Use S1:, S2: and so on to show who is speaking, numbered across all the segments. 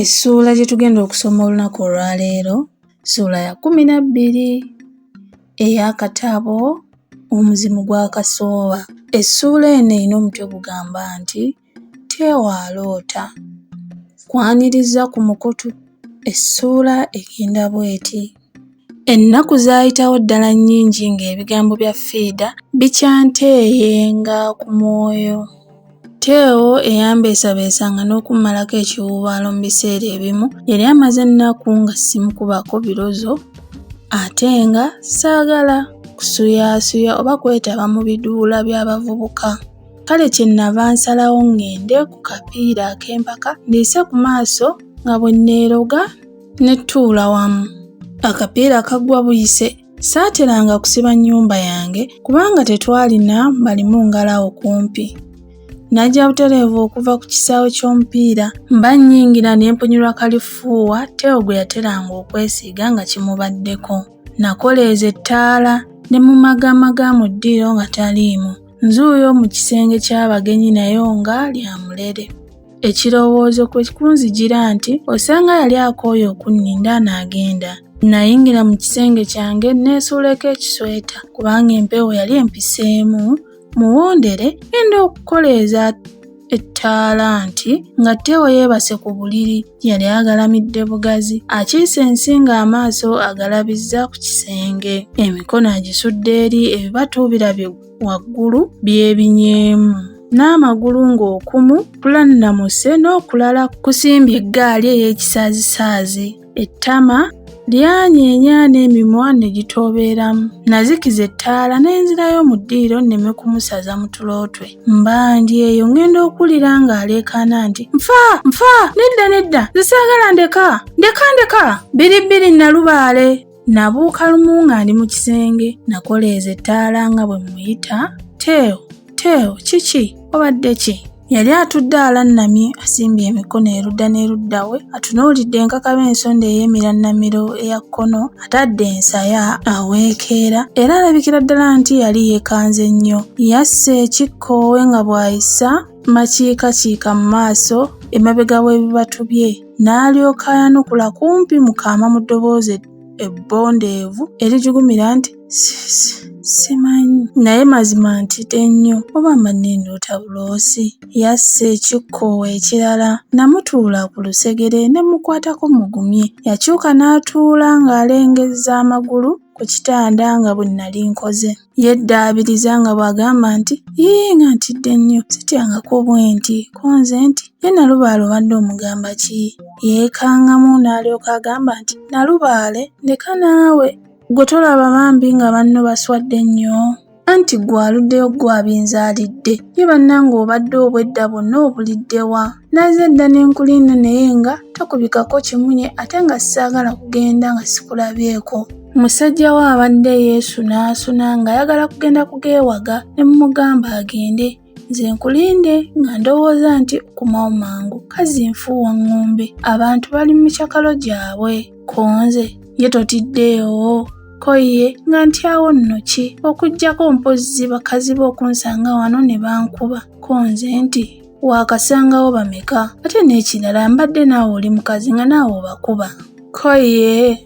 S1: Essuula gye tugenda okusoma olunaku olwaleero ssuula ya kumi na bbiri ey'akatabo omuzimu gwa kasooba essuula eno erina omutwe gugamba nti tewaaloota kwaniriza ku mukutu essuula egenda bw'eti Ennaku zaayitawo ddala nnyingi ng'ebigambo bya Fiida bikyanteeyenga ku mwoyo. Teo eyambeesabeesanga n'okummalako ekiwuubaalo mu biseera ebimu yali amaze ennaku nga simukubako birozo ate nga saagala kusuyaasuya oba kwetaba mu biduula by'abavubuka. Kale kye nnava nsalawo ng'ende ku kapiira ak'empaka nneese ku maaso nga bwe nneeroga ne tuula wamu. Akapiira kaggwa buyise saateranga kusiba nnyumba yange kubanga tetwalina balimu ngalawo kumpi. Najja butereevu okuva ku kisaawe ky'omupiira mba nnyingira ne mpunyirwa kalifuuwa Teo gwe yateranga okwesiiga nga kimubaddeko. Nakoleeza ettaala ne mumagaamaga mu ddiiro nga taliimu. Nzuuyo mu kisenge ky'abagenyi nayo nga lya mulere. Ekirowoozo kwe kunzijira nti osanga yali akooye okunninda n'agenda. Nnayingira mu kisenge kyange nneesuuleko ekisweta kubanga empewo yali empiseemu muwondere ngenda okukoleeza ettaala nti nga Teo yeebase ku buliri yali agalamidde bugazi akiise ensi ng'amaaso agalabizza ku kisenge emikono agisudde eri ebibatuubira bye waggulu byebinyeemu n'amagulu ng'okumu kulannamuse n'okulala kusimbye eggaali ey'ekisaazisaazi ettama lyanyeenya n'emimwa ne gitoobeeramu nazikiza ettaala n'enzirayo mu ddiiro nneme kumusaza mu tulootwe mbandi eyo ŋŋenda okuwulira ng'aleekaana nti nfa nfa nedda nedda zisaagala ndeka ndeka ndeka biribbiri nalubaale nabuuka lumu nga ndi mu kisenge nakoleeza ettaala nga bwe muyita teeo teeo kiki obadde ki yali atudde alannamye asimbye emikono erudda n'erudda we atunuulidde enkakaba ensonda ey'emirannamiro eya kkono atadde ensaya aweekeera era alabikira ddala nti yali yeekanze nnyo yassa ekikkoowe nga bw'ayisa makiikakiika mu maaso emabega w'ebibatu bye n'alyoka ayanukula kumpi mu kaama mu ddoboozi ebbondeevu erijugumira nti simanyi naye mazima ntidde nnyo oba manni ndoota buloosi Yassa ekikkoowe ekirala namutuula ku lusegere ne mmukwatako mmugumye. Yakyuka n'atuula ng'alengezza amagulu ku kitanda nga bwe nnali nkoze. Yeddaabiriza nga bw'agamba nti, Yii nga ntidde nnyo, sityangako bwenti. Ko nze nti, Ye Nalubaale obadde omugamba ki? Yeekangamu n'alyoka agamba nti, Nalubaale ndeka naawe. Ggwe tolaba bambi nga banno baswadde nnyo? Anti gwe aluddeyo gwe abinzaalidde. Ye bannange obadde obwedda bwonna obulidde wa? Naze dda ne nkulinda naye nga tokubikako kimunye ate nga saagala kugenda nga sikulabyeko. Musajja we abadde yeesunaasuna ng'ayagala kugenda kugeewaga ne mmugamba agende. nze nkulinde nga ndowooza nti okumawo mangu kazi nfuuwa ŋŋumbe abantu bali mu mikyakalo gyabwe konze ye totiddeewo ko ye nga ntyawo nno ki okuggyako mpozzi bakazi be okunsanga wano ne bankuba konze nti waakasangawo bameka ate n'ekirala mbadde naawe oli mukazi nga naawe obakuba ko ye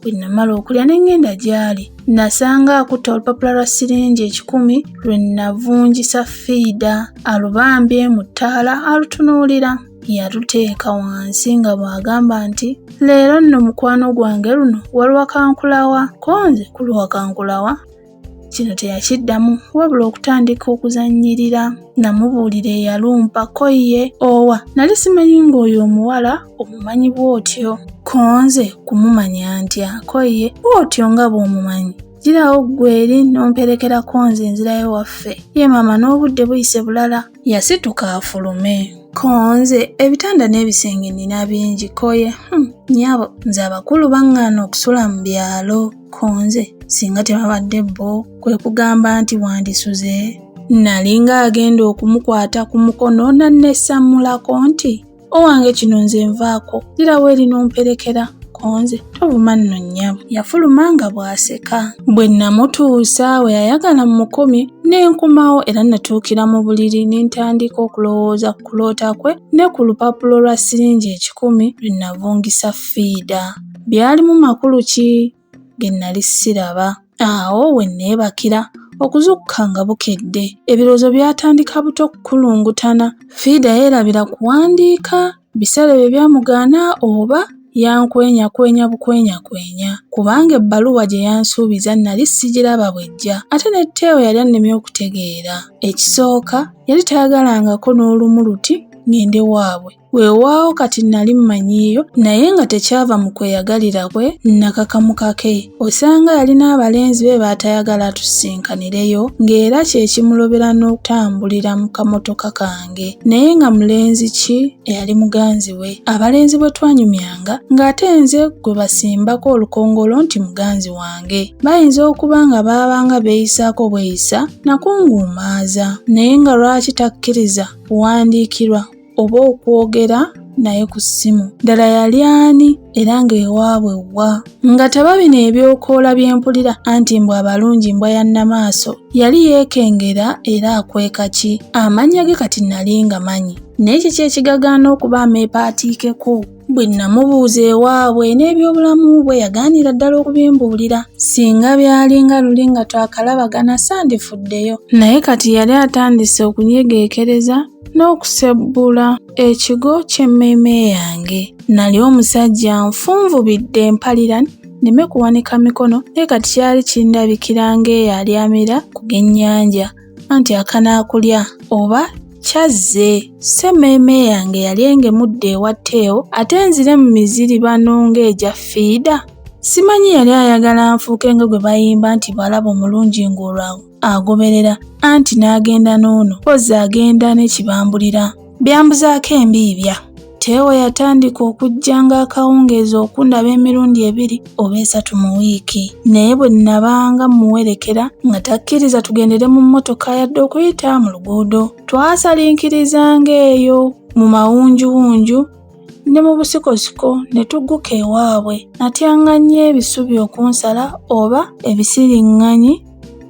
S1: Bwe nnamala okulya ne ŋŋenda gy'ali, nnasanga akutte olupapula lwa siringi ekikumi lwe nnavungisa fiida alubambye mu ttaala alutunuulira. Yaluteeka wansi nga bw'agamba nti, Leero nno mukwano gwange luno waluwakankulawa, ko nze kuluwakankulawa. Kino teyakiddamu wabula okutandika okuzannyirira namubuulira eyalumpa ko ye owa nali simanyi ng'oyo omuwala omumanyi bw'otyo ko nze kumumanya ntya ko ye bw'otyo nga bw'omumanyi girawo ggwe eri n'omperekerako nze nzirayo waffe ye maama n'obudde buyise bulala yasituka afulume konze ebitanda n'ebisenge nina bingi koye hmm, nyabo nze abakulu baŋŋaana okusula mu byalo konze singa tebabadde bo kwe kugamba nti wandisuze nali ng'agenda okumukwata ku mukono nannesammulako nti owange kino nze nvaako ddira weeri n'omperekera konze tobuma nno nnyabo yafuluma nga bw'aseka bwe nnamutuusa we yayagala mu mukumi ne nkumawo era natuukira mu buliri ne ntandika okulowooza ku kuloota kwe ne ku lupapula lwa siringi ekikumi lwe navungisa fiida byalimu makulu ki bye nnali siraba. Awo we nneebakira okuzukka nga bukedde. Ebirowoozo byatandika buto okukulungutana. Fiida yeerabira kuwandiika biseera ebyo byamugaana oba yankwenyakwenya bukwenyakwenya kubanga ebbaluwa gye yansuubiza nnali sigiraba bwejja ate ne Teo yali annemye okutegeera. Ekisooka yali tayagalangako n'olumu luti ng'ende waabwe. Weewaawo kati nnali mmanyiiyo naye nga tekyava mu kweyagalira kwe nnakakamu kake. Osanga yalina abalenzi be baatayagala atusinkanireyo ng'era kye kimulobera n'okutambulira mu kamotoka kange. Naye nga mulenzi ki eyali muganzi we? Abalenzi bwe twanyumyanga ng'ate nze gwe basimbako olukongolo nti muganzi wange. Bayinza okuba nga baabanga beeyisaako bweyisa nakunguumaaza. Naye nga lwaki takkiriza kuwandiikirwa oba okwogera naye ku ssimu ddala yali ani era ng'ewaabwe wa nga teba bino ebyokoola bye mpulira anti mbw abalungi mbwa ya nnamaaso yali yeekengera era akweka ki amannya ge kati nali nga manyi naye kiki ekigagaana okuba ameepaatiikeko bwe nnamubuuza ewaabwe n'ebyobulamu bwe yagaanira ddala okubimbuulira singa byali nga luli nga twakalabagana sandifuddeyo naye kati yali atandise okunyegeekereza n'okusebbula ekigo ky'emmeeme yange nali omusajja nfunvubidde empalira nneme kuwanika mikono naye kati kyali kindabikira ng'eyo alyamira ku g'ennyanja anti akanaakulya oba kyazze ssemmeeme yange yali engemudde ewa teewo ate nzire mu miziri bano ng'egya fiida simanyi yali ayagala nfuuke nga gwe bayimba nti bwalaba omulungi ng'olwa agoberera anti n'agenda n'ono kozzi agenda ne kibambulira Byambuzaako embiibya. Teewo yatandika okujjanga akawungeezi okundaba emirundi ebiri oba esatu mu wiiki, naye bwe nnabanga mmuwerekera nga takkiriza tugendere mu mmotoka yadde okuyita mu luguudo. Twasaliikirizanga eyo mu mawunjuwunju ne mu busikosiko ne tugguka ewaabwe. Natyanga nnyo ebisubi okunsala oba ebisiriŋŋanyi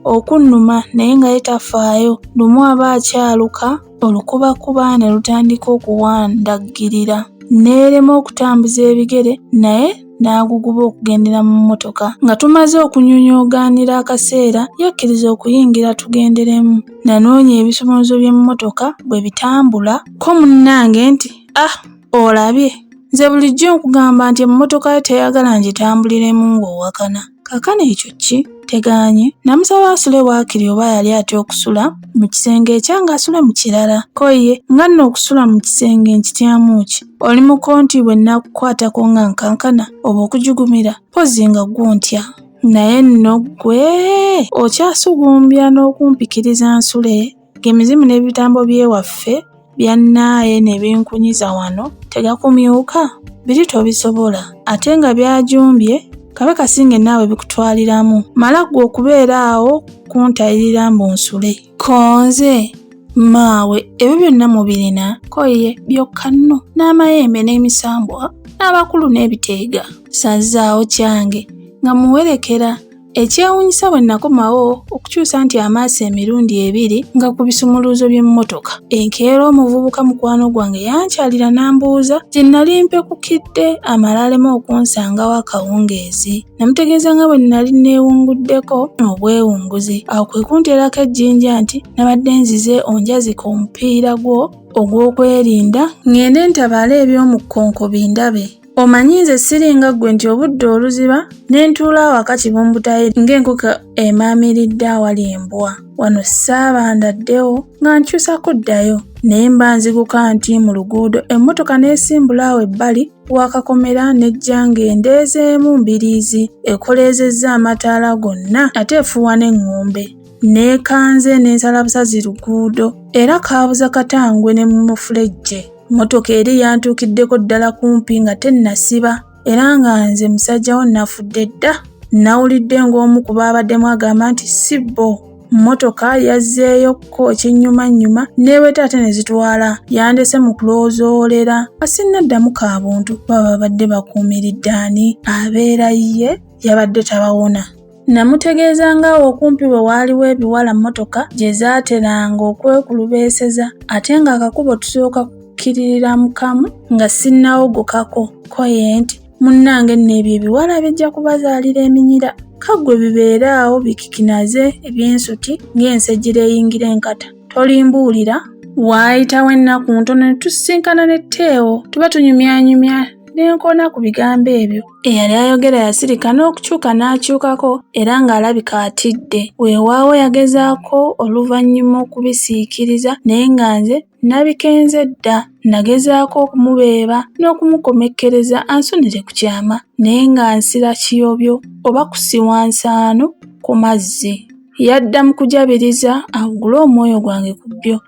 S1: okunnuma naye nga ye tafaayo. Lumu aba akyaluka. olukubakuba ne lutandika okuwandaggirira n'erema okutambuza ebigere naye n'aguguba okugendera mu mmotoka nga tumaze okunyunyuugaanira akaseera yakkiriza okuyingira tugenderemu nanoonya ebisumuluzo by'emmotoka bwe bitambula ko munnange nti ah Olabye, nze bulijjo nkugamba nti emmotoka yo teyagala ngitambuliremu ng'owakana. Kakana ekyo ki? Teganye. Namusaba asule waakiri oba yali atya okusula mu kisenge ekyange asule mu kirala. Ko ye, nga nno okusula mu kisenge nkityamu ki? Oli muko nti bwe nnakukwatako nga nkankana oba okujugumira? Mpozzi nga ggwo ntya. Naye nno ggwe okyasugumbya n'okumpikiriza nsule? Ng'emizimu n'ebitambo by'ewaffe byannaaye ne binkunyiza wano tegakumyuka? Biri tobisobola. Ate nga byajumbye, Kabaka singe naawe bikutwaliramu. Mala ggwe okubeera awo kuntayirira mbu nsule. Ko nze, Mmaawe ebyo byonna mubirina? Ko ye, Byokka nno n'amayembe n'emisambwa n'abakulu n'ebiteega. Ssazzaawo kyange nga mmuwerekera Ekyewuunyisa bwe nakomawo okukyusa nti amaaso emirundi ebiri nga ku bisumuluuzo by'emmotoka. Enkeera omuvubuka mukwano gwange yankyalira n'ambuuza gye nnali mpekukidde amala aleme okunsangawo akawungeezi. Namutegeeza nga bwe nnali nneewunguddeko obwewunguzi. Awo kwe kunteerako ejjinja nti nabadde nzize onjazika omupiira gwo ogw'okwerinda ng'ende ntabaale eby'omu kkonko bindabe. Omanyi nze siringa ggwe nti obudde oluziba ne ntuula awaka kibumbutaye ng'enkoko emaamiridde awali embwa. Wano saabanda ddewo nga nkyusa kuddayo naye mba nziguka nti mu luguudo emmotoka n'esimbula awo ebbali wakakomera n'ejja ng'endeezeemu mbiriizi ekoleezezza amataala gonna ate efuuwa n'eŋŋombe. Neekanze n'ensalabusazi luguudo era kaabuza katangwe ne mu mufulejje. Mmotoka eri yantuukiddeko ddala kumpi nga tennasiba era nga nze musajja wo nafudde dda. Nnawulidde ng'omu ku baabaddemu agamba nti si bo mmotoka yazzeeyo kko kinnyumannyuma n'eweta ate ne zitwala yandese mu kuloozoolera nga sinnaddamu ka buntu kuba babadde bakuumiridde ani abeera ye yabadde tabawona. Namutegeeza ng'awo okumpi we waaliwo ebiwala mmotoka gye zaateranga okwekulubeeseza ate ng'akakubo tusooka kukkiriramu kamu nga sinnawogokako ko ye nti munnange nno ebyo ebiwala bijja kubazaalira eminyira kaggwe bibeere awo bikikinaze eby'ensuti ng'ensejjira eyingira enkata tolimbuulira waayitawo ennaku ntono ne tusisinkana ne teewo tuba tunyumyanyumya ne nkona ku bigambo ebyo Eyali ayogera yasirika n'okukyuka n'akyukako era ng'alabika atidde. Weewaawo yagezaako oluvannyuma okubisiikiriza naye nga nze nabikenze dda. Nagezaako okumubeeba n'okumukomekkereza ansunire ku kyama naye nga nsira kiyobyo oba kusiwa nsaano ku mazzi. Yadda mu kujabiriza awugule omwoyo gwange ku byo